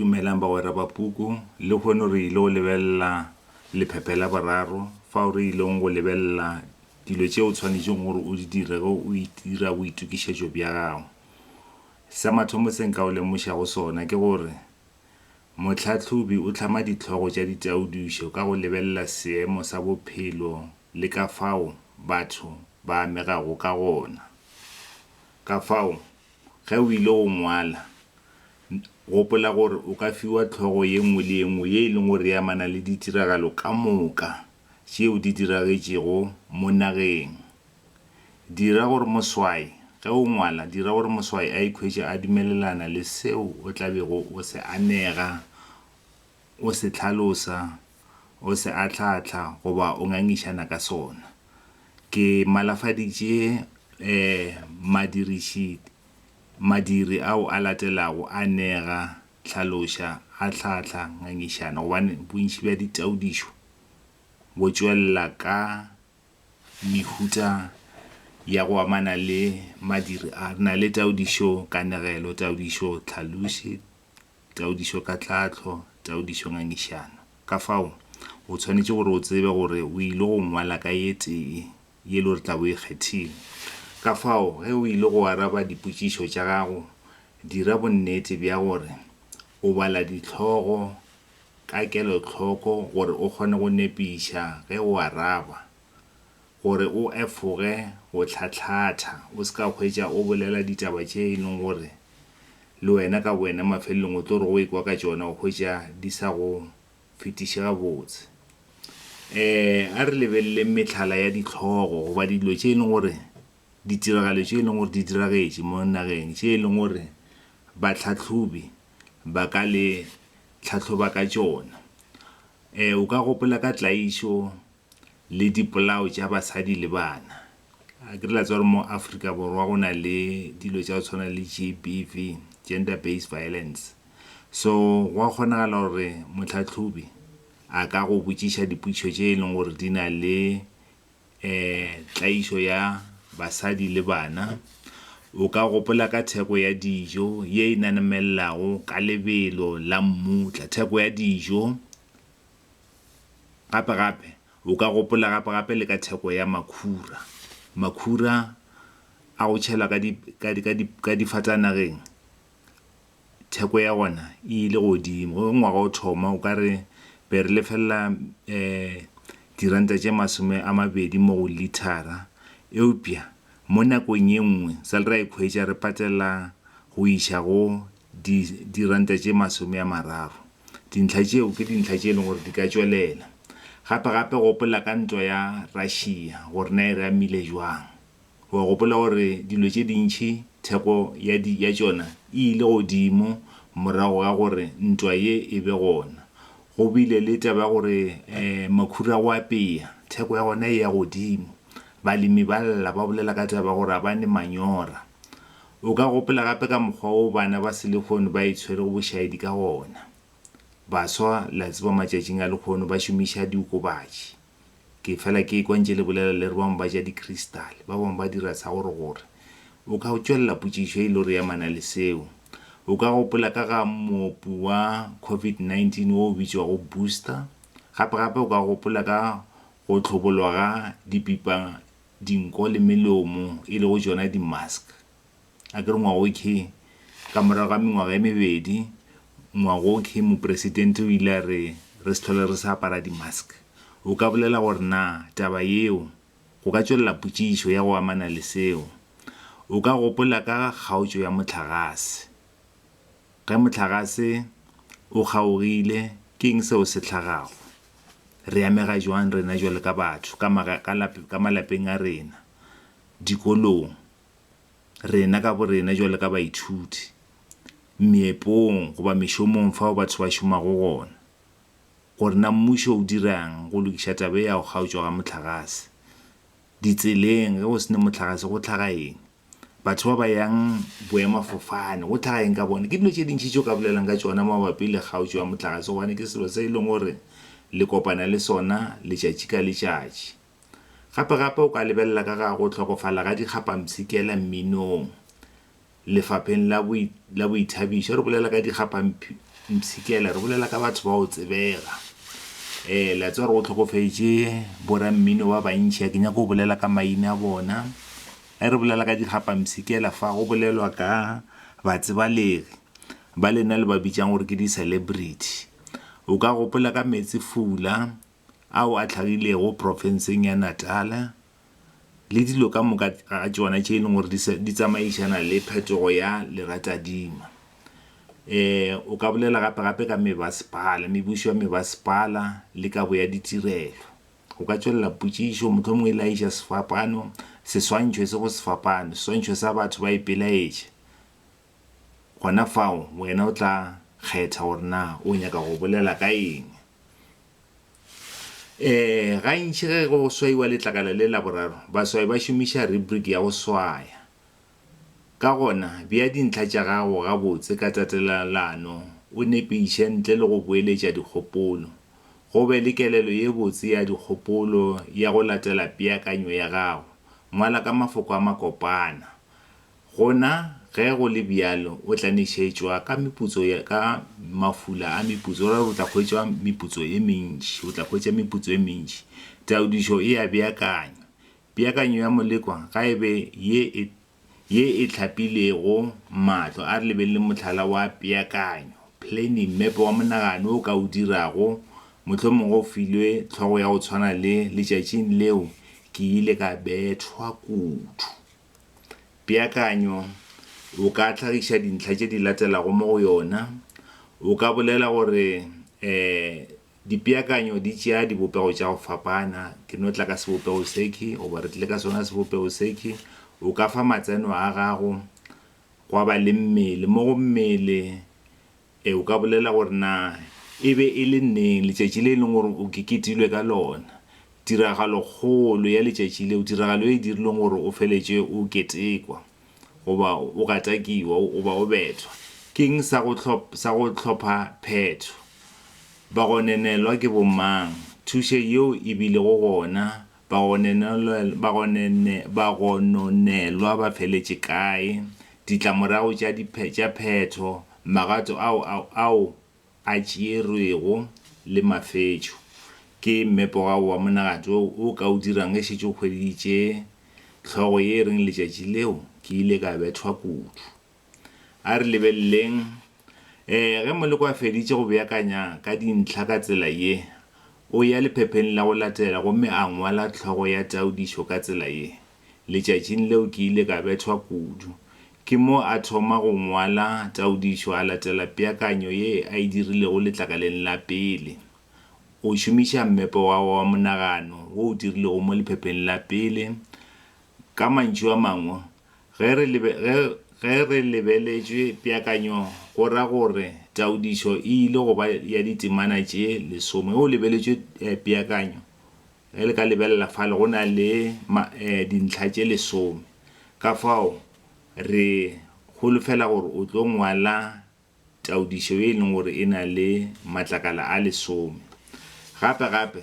Dumelang bagwera ba puku. Lehono re ile go lebelela lephephe la boraro fao re ilego go lebelela dilo tše o tshwanetšego gore o di dire ge o dira boitokišetšo bja gago. Sa mathomo se nka go lemošago sona ke gore mohlahlobi o hlama dihlogo tša ditaodišo ka go lebelela seemo sa bophelo le ka fao batho ba amegago ka gona. Kafao, ge o ile go ngwala, Gopola gore o ka fiwa hlogo ye nngwe le ye nngwe ye e lego gore e amana le ditiragalo ka moka tšeo di diragetšego mo nageng. Dira gore moswai, ge o ngwala, dira gore moswai a ikhwetše a dumelelana le seo o tla bego o se anega, o se hlalosa, o se ahlaahlaa goba o ngangišana ka sona. Ke malafaditše madiriši. Madiri ao a latelago a nega, hlaloša, ahlahla, ngangišana gobane bontši bja ditaodišo bo tšwelela ka mehuta ya go amana le madiri a. Re na le taodišo kanegelo, taodišo tlhaloši, taodišo ka tlhahlo, taodišo ngangišano. Ka fao, o tshwanetše gore o tsebe gore o ile go ngwala ka ye tee. ye lo re tla bo e kgethile. Ka fao, ge o ile go araba dipotšišo tša gago, dira bonnete bja gore o bala dihlogo ka kelohloko gore o kgone go nepiša ge o araba, gore o efoge go tlhatlatha o se ka hwetša o bolela ditaba tše e leng gore le wena ka bowena mafelelong o tlo re go ekwa ka tšona o hwetša di sa go fetiše gabotse. Um a re lebeleleng mehlala ya dihlogo goba dilo tše e leng gore, ditiragalo tše e leng gore di diragetše mo nageng tše e leng gore bahlahlobi ba ka le tlhahloba ka tšona. Um o ka gopola ka tlaišo le dipolao tša basadi le bana. A ke re la tseba gore mo Afrika Borwa go na le dilo tša go tshwana le G_B_V, Gender Based Violence. So gwa kgonagala gore mohlahlobi a ka go botšiša dipotšišo tše e leng gore di na le tlaišo ya basadi le bana. O ka gopola ka theko ya dijo ye e nanemelelago ka lebelo la mmutla, theko ya dijo. Gape-gape, o ka gopola gape-gape le ka theko ya makhura. Makhura a go tšhelwa ka di, ka di, ka di, ka difatanageng, theko ya ona e ile godimo. Ge ngwaga o thoma, o ka re be re lefelela um diranta tše masome a mabedi mo go lithara, eupša mo nakong ye nngwe sa le ra ikhwetša re patela go iša go di diranta tše masome a mararo. Dintlha tšeo ke dintlha tše e leng gore di ka tšwelela. Gape-gape gopola ka ntwa ya Russia gore na e re amile bjang. O a gopola gore dilo tše dintši theko ya di ya tšona e ile godimo morago ga gore ntwa ye e be gona. Go bile le taba ya gore makhura a go apea theko ya gona e ya godimo. Balemi ba lla ba bolela ka taba ya gore ga ba ne manyora. O ka gopela gape ka mokgwa wo bana ba selehono ba itshwerego bošaedi ka gona. Baswa, le a tseba matšatšing a lehono ba šomiša diokobatši. Ke fela ke ekwa ntše le bolela le re bangwe ba ja dikristale, ba bangwe ba dira sa gore gore. O ka tšwelela potšišo e ile gore e amana le seo. O ka gopola ka ga moopi wa Covid 19 wo o bitšwago Booster. Gape gape o ka gopola ka go hlobolwa ga dipipa dinko le melomo e lego tšona di-mask. A ke re ngwaga o khe, ka morago ga mengwaga e mebedi, ngwaga o khe Mopresidente o ile a re re se tlhole re sa apara di-mask. O ka bolela gore na taba yeo go ka tšwelela potšišo ya go amana le seo? O ka gopola ka ga kgaotšo ya mohlagase. Ge mohlagase o kgaogile, ke eng seo se hlagago? Re amega joang rena bjalo ka batho ka ma, ka la, ka malapeng a rena, dikolong, rena ka borena bjalo ka baithuti, meepong goba mešomong fao batho ba šomago gona? Gore na mmušo o dira'ng go lokiša taba e ya go kgaotšwa ga mohlagase? Ditseleng, ge go se ne mohlagase go hlaga eng? batho ba ba yang boemafofane go tlhaga eng ka bone ke dilo tše dintšhi tšeo ka bolelang ka tšona mabapi le kgaotšo ya motlakase gobane ke selo se e leng gore le kopana le sona letšatši ka letšatši gape gape o ka lebelela ka ga go tlhokofala ga dikgapamsikela mminong lefapheng la boi la boithabišo re bolela ka dikgapamsikela re bolela ka batho ba o tsebega um la tse gore o tlhokofetše borammino ba bantšhi a ke nyako o bolela ka maina a bona Ge re bolela ka dikgapamsikela fa, go bolelwa ka batsebalegi ba lena le ba bitšang gore ke di-celebrity. O ka gopola ka Meetsefula ao a tlhagilego profenseng ya Natal le dilo ka moka ga tšona tše e leng gore di tsamaišana le phetogo ya leratadima. Um o ka bolela gape-gape ka mebasepala, mebušo ya mebasepala le kabo ya ditirelo. O ka tšwelela potšišo, mohlomongwe e laetša sefapano, seswantšho se go sefapano, seswantšho sa batho ba ipelaetše. Gona fao wena o tla kgetha gore na o nyaka go bolela ka eng. Um gantši ge go swaiwa letlakala le la boraro, baswai ba šomiša rubric ya go swaya. Ka gona, bea dintlha tša gago gabotse ka tatelelano, o nepiše ntle le go boeletša dikgopolo. Go be le kelelo ye botse ya dikgopolo ya go latela peakanyo ya gago. Ngwala ka mafoko a makopana. Gona, ge go le bjalo, o tla nešetšwa ka meputso ya, ka mafula a meputso, go ra gore o tla hwetšwa meputso e mentši, o tla hwetša meputso e mentši. Taodišo e a beakanywa. Peakanyo ya Molekwa ga e be ye e ye e hlapilego mahlo. A re lebeleleng mohlala wa peakanyo, planning, mmepe wa monagano o ka o dirago. Mohlomongwe o filwe hlogo ya go tshwana le Letšatšing leo ke ile ka bethwa kudu. Peakanyo O ka hlagiša dintlha tše di latelago mo go yona. O ka bolela gore, um Dipeakanyo di tšea dibopego tša go fapana, ke no tla ka sebopego sekhwi, goba re tlile ka sona sebopego sekhwi. O ka fa matseno a gago, gwa ba le mmele. Mo go mmele, e, o ka bolela gore, Na e be e le neng letšatši le e leng gore o keketilwe ka lona? Tiragalokgolo ya letšatši leo, tiragalo e e dirileng gore o feletše o ketekwa. goba o gatakiwa goba o bethwa, ke'ng sa go sa go hlopha phetho? Bagonenelwa ke bomang? Thušo yeo e bile go gona? Bagonenelwa bagonene bagononelwa ba feletše kae? Ditlamorago tša tša phetho, magato ao ao ao a tšeerwego le mafetšo ke mmepogago wa monagadi o o ka o dirang ge šetše o hweditše hlogo ye e reng Letšatši Leo Ke Ile Ka Bethwa Kudu. A re lebeleleng. Ee, ge moleko a feditše go beakanya ka dintlha ka tsela ye, o ya lephepheng la go latela gomme a ngwala hlogo ya taodišo ka tsela ye. Letšatšing leo ke ile ka bethwa kudu. Ke mo a thoma go ngwala taodišo a latela peakanyo ye a e dirilego letlakaleng la pele. O šomiša mmepe wa gagwe wa monagano wo o dirilego mo lephepheng la pele. Ka mantšu a mangwe, ge re lebe, ge, ge re lebeletšwe peakanyo go ra gore taodišo e ile go ba ya ditemana tše lesome. Ge o lebeletšwe peakanyo, Ge le ka lebelela fale, go na le dintlha tše lesome. Ka fao re holofela gore o tlo ngwala taodišo ye e leng gore e na le matlakala a lesome. Gape-gape,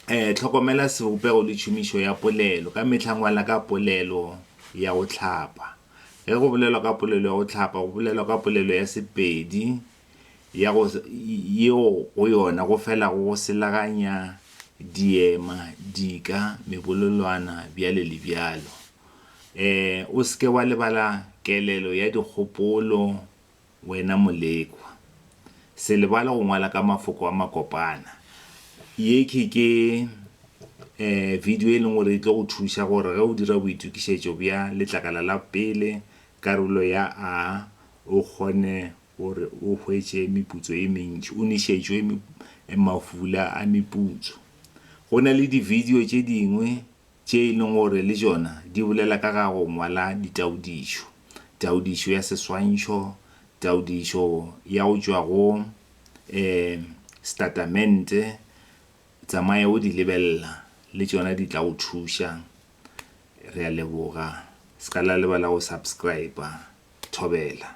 hlokomela sebopego le tšhomišo ya polelo. Ka mehla ngwala ka polelo ya go hlapa. Ge go bolelwa ka polelo ya go hlapa, go bolelwa ka polelo ya Sepedi ya go, yeo go yona go felago go selaganya diema, dika, mebolelwana, bjalo le bjalo. E, o se ke wa lebala kelelo ya dikgopolo, wena molekwa. Se lebale go ngwala ka mafoko a makopana. Ye ke, ke e, video e leng gore e tlo go thuša gore ge o dira boitokišetšo bja letlakala la pele, karolo ya A, o kgone gore o hwetše meputso e mentši, o nwešetšwe mafula a meputso. Go na le dibidio tše dingwe tše e lego gore le tšona di bolela ka ga go ngwala ditaodišo, taodišo ya seswantšho, taodišo ya go tšwa go um setatamente. Tsamaya o di lebelela, le tšona di tla go thuša. Re a leboga. Se ka la lebala go subscriber. thobela.